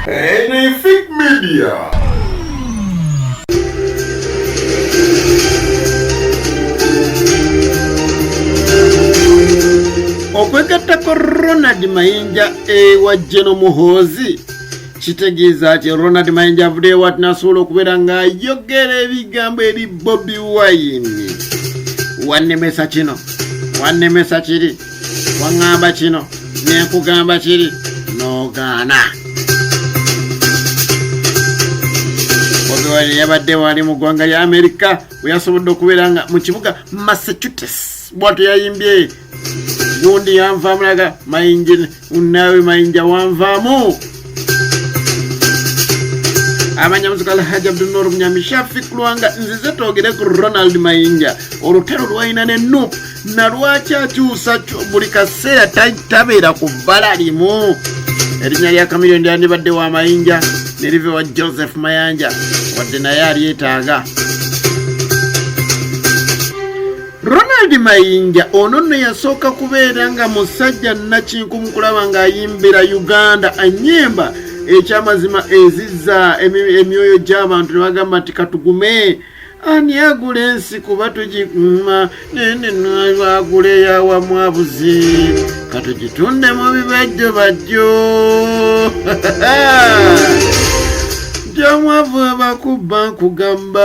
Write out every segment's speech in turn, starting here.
Anything Media. okwegattako ronald mayinja ewa jeno muhoozi kitegeeza ti ronald mayinja avudeewo ati nasobola okubeera ng'ayogera ebigambo eri bobi wayini wannemesa kino wannemesa kiri waŋŋamba kino ne nkugamba kiri n'ogaana obiwani yabadde wali mu ggwanga lya amerika we yasobodde okubeera nga mu kibuga massachusetts bwatyo yayimbye gundi yanvaamulaga mayingini Unawe Mayinja wanvaamu abanyamuziga alhaji abdunur munyamishafi kulwanga nzize twogere ku ronald mayinja olutalo lwalina ne nup nalwaki akyusa buli kaseera tabeera ku bbala limu erinnya lya kamilyo ndyandibadde wa mayinja nerive wa joseph mayanja wadde naye alyetaaga Ronald Mayinja ono nno yasooka kubeera nga musajja nnakinku mu kulaba ng'ayimbira Uganda ennyimba ekyamazima ezizza emyoyo gy'abantu ne bagamba nti katugume ani agula ensi kuba tugiguma nene nagula eyawamu abuzi katugitunde mu bibajjo bajjo gyamwavu abakubba nkugamba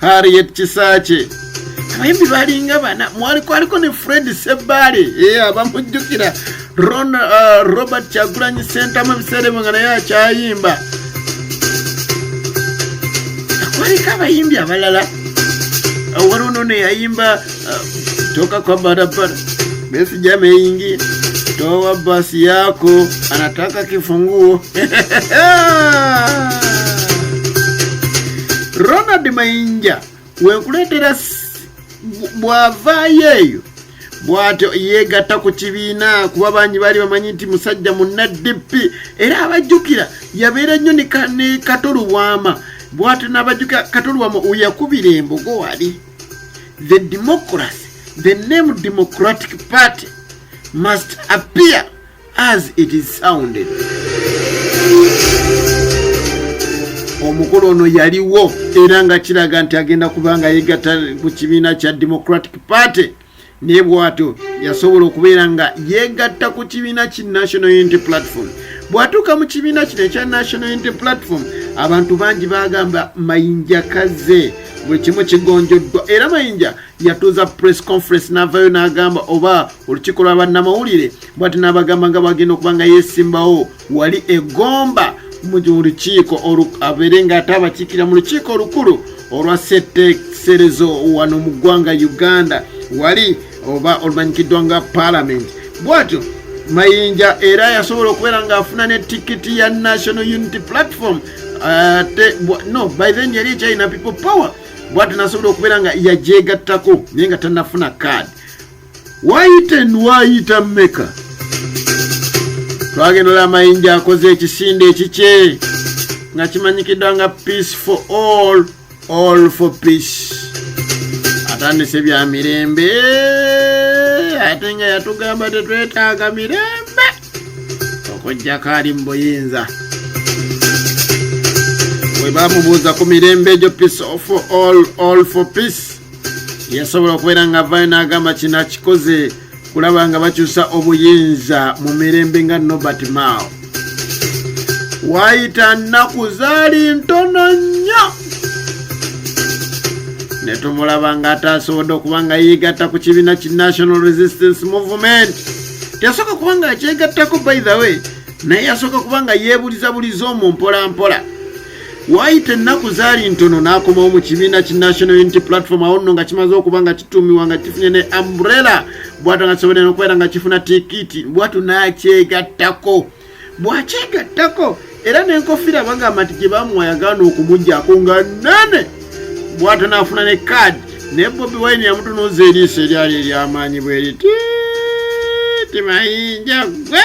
harriet kisakye abayimbi balinga bana mwaliko aliko ne fred sebbaale e eh, abamujjukira uh, robert kyagulanyi sentamu ebiseera ebyo nga naye akyayimba kwaliko abayimbi abalala waliwo nono yayimba ah, toka kwa barabara, Besigye ameingia, toa basi yako, anataka kifunguo Ronald Mainja wekuletera bwava yeeyo bwatyo yeegatta ku kibiina kuba bangi baali bamanyi nti musajja mu ndp era abajjukira yabeera nnyo ne katolubwama bwatyo n'abajjukira katolubwama weyakubira embogo wali the democracy the name democratic party must appear as it is sounded omukulu ono yaliwo era nga kiraga nti agenda kubanga yegatta ku kibiina kya democratic party naye bwatyo yasobola okubeera nga yeegatta ku kibiina ki national unity platform bw'atuuka mu kibiina kino ekya national unity platform abantu bangi bagamba mayinja kaze buli kimu kigonjoddwa era mayinja yatuuza press conference n'avaayo n'agamba oba olukiiko lwa bannamawulire bwati n'abagamba nga bagenda okuba nga yeesimbawo wali egomba mu lukiiko abeere nga ate abakiikira mu lukiiko olukulu olwa seteeserezo wano mu ggwanga uganda wali oba olumanyikiddwa nga paalamenti bwatyo mayinja era yasobola okubeera ng'afuna ne tikiti ya national unity platform ate no by then yali ekyalina people power bwatyo nasobola okubeera nga yagyegattako naye nga tanafuna kaadi Waayita waayita mmeka? Twagendola amayinja akoze ekisinde ekikye nga kimanyikiddwa nga peace for all all for peace atandise bya mirembe ate nga yatugamba tetwetaaga mirembe okujjako ali mu buyinza bwe bamubuuza ku mirembe egyo peace for all all for peace yasobola okubeera nga avayo n'agamba kino akikoze kulaba nga bakyusa obuyinza mu mirembe nga nobert mao wayita nnaku zaali ntono nnyo ne tumulaba ng'ataasobodde okuba nga yeegatta ku kibiina ki national resistance movement teyasooka kuba nga akyegattako by the way naye yasooka kuba nga yeebulizabuliza omwo mpolampola waayita ennaku zaali ntono n'akomawo mu kibiina ki national unity platform awo nno nga kimaze okuba nga kituumiwa nga kifunye ne ambrella bwatu nga kisobole nokubeera nga kifuna tikiti bwatu n'akyegattako bwakyegattako era n'enkofiira bagamba nti gye bamuwa yagaana okumugyako nga nene bwatu n'afuna ne kaadi naye bobi wine yamutunuuza eriiso eryali eryamaanyi bweriti timayinja gwe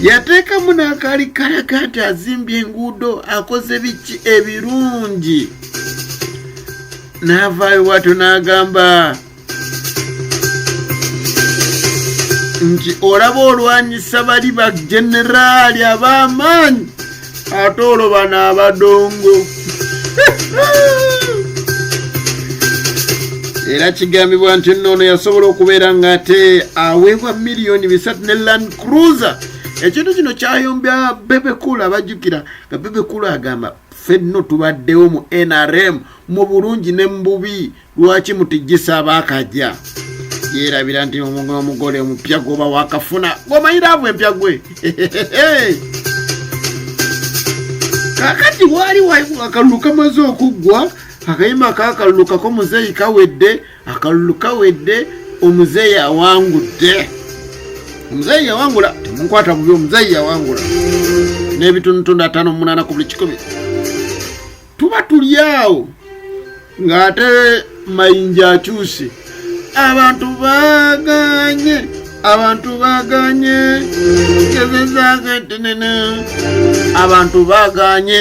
yateekamu n'akaali kalaga nti azimbye enguudo akoze biki ebirungi n'avaayo bwatyo n'agamba nti olaba olwanyisa bali bageneraali ab'amaanyi ate olwo bano abadongo era kigambibwa nti nno ono yasobola okubeera ng'ate aweebwa miliyoni bisatu ne land cruiser ekintu kino kyayombya bebekulu abajjukira nga bebekulu agamba fenno tubaddewo mu nrm mu bulungi ne mu bubi lwaki mutijjisa abaakajja yeerabira nti omugole omupya gwoba wakafuna gwomanyira avo empya gwe kakati waali akalulu kamaze okuggwa akayima kakalulu kako muzeeyi kawedde akalulu kawedde omuzeeyi awangudde omuzeeyi yawangula temunkwata bubi omuzeeyi yawangula n'ebitundutundu ataano munaana ku buli kikumi tuba tuli awo ng'ate mayinja akyuse abantu baganye abantu baganye gezezaka tenene abantu baganye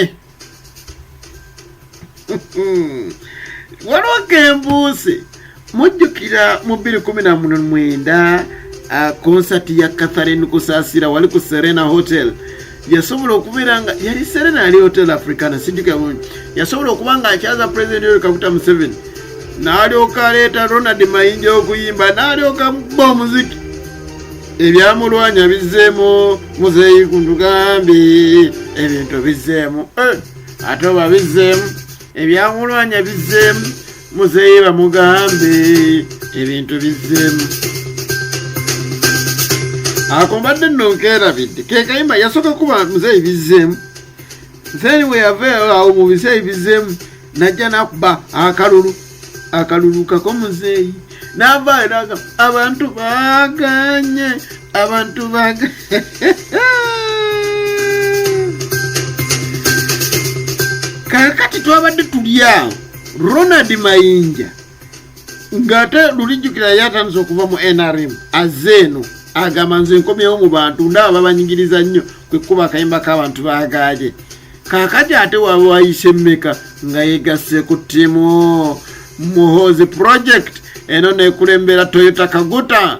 waliwo kembuuse mujjukira mu 219 konsati ya catharine kusasira wali ku serena hotel yasobola okubeera nga yali serena yali hotel africana sijjuka bulungi yasobola okuba nga akyaza president yoweri kaguta museveni n'alyoka aleeta ronald mayinja okuyimba n'alyoka ba omuziki ebyamulwanya bizzeemu muzeeyi kuntugambi ebintu bizzeemu eh, ate oba bizzeemu ebyamulwanya bizzeemu muzeeyi bamugambe ebintu bizzemu ako mbadde nno nkeerabidde kekayimba yasooka kuba muzeeyi bizzeemu then weyava awo mu biseeyi bizzeemu najja nakuba akalulu akalulu kako muzeeyi nava eraga abantu baganye abantu baganye kakati twabadde tulyawo Ronald Mayinja ng'ate lulijjukira yali atandise okuva mu nrm azze eno agamba nze nkomyewo mu bantu ndaba babanyigiriza nnyo kwe kukuba akayimba k'abantu baagaaje kaakati ate waba wayise mmeka nga yegasse ku ttiimu muhoozi project eno nekulembera toyota kaguta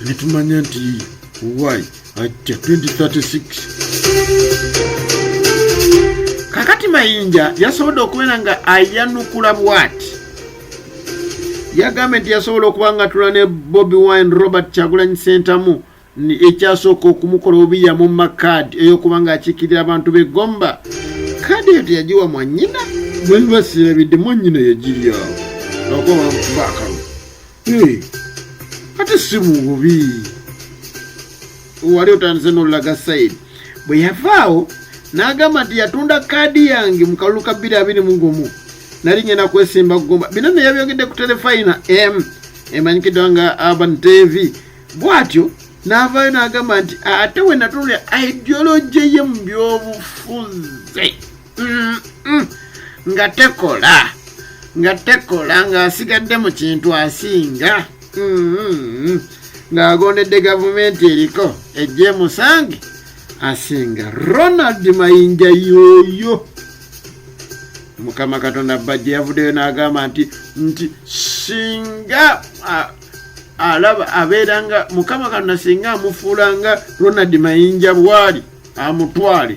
litumanya nti why ajja 2036 kakati mayinja yasobodde okubeera nga ayanukula bwati yagambye nti yasobola okuba nga tula ne bobi wine robert kyagulanyi sentamu ekyasooka okumukola obubi yamumma kaadi ey'okuba ng'akiikirira abantu be gomba kaadi eyo teyagiwa mwanyina bwebibasirabidde mwanyina yagiryawo akuba bamukubaakalulu Hey, ate si mububi wali otandise nolaga said bwe yavaawo n'agamba nti yatunda kaadi yange mu kalulu ka bbiri abiri mu gumu nali ngenda kwesimba kugomba bino ne yabyogedde ku telefayina m emanyikiddwa nga urban tv bw'atyo n'avaayo n'agamba nti ate we natunulira ideology ye mu byobufuzi nga tekola nga tekola ng'asigadde mu kintu asinga mm-hmm. ng'agondedde gavumenti eriko ejje musange asinga ronald mayinja yooyo mukama katonda bajja yavuddeyo n'agamba nti nti singa alaba abeera nga mukama katonda singa amufuula nga ronald mayinja bwali amutwale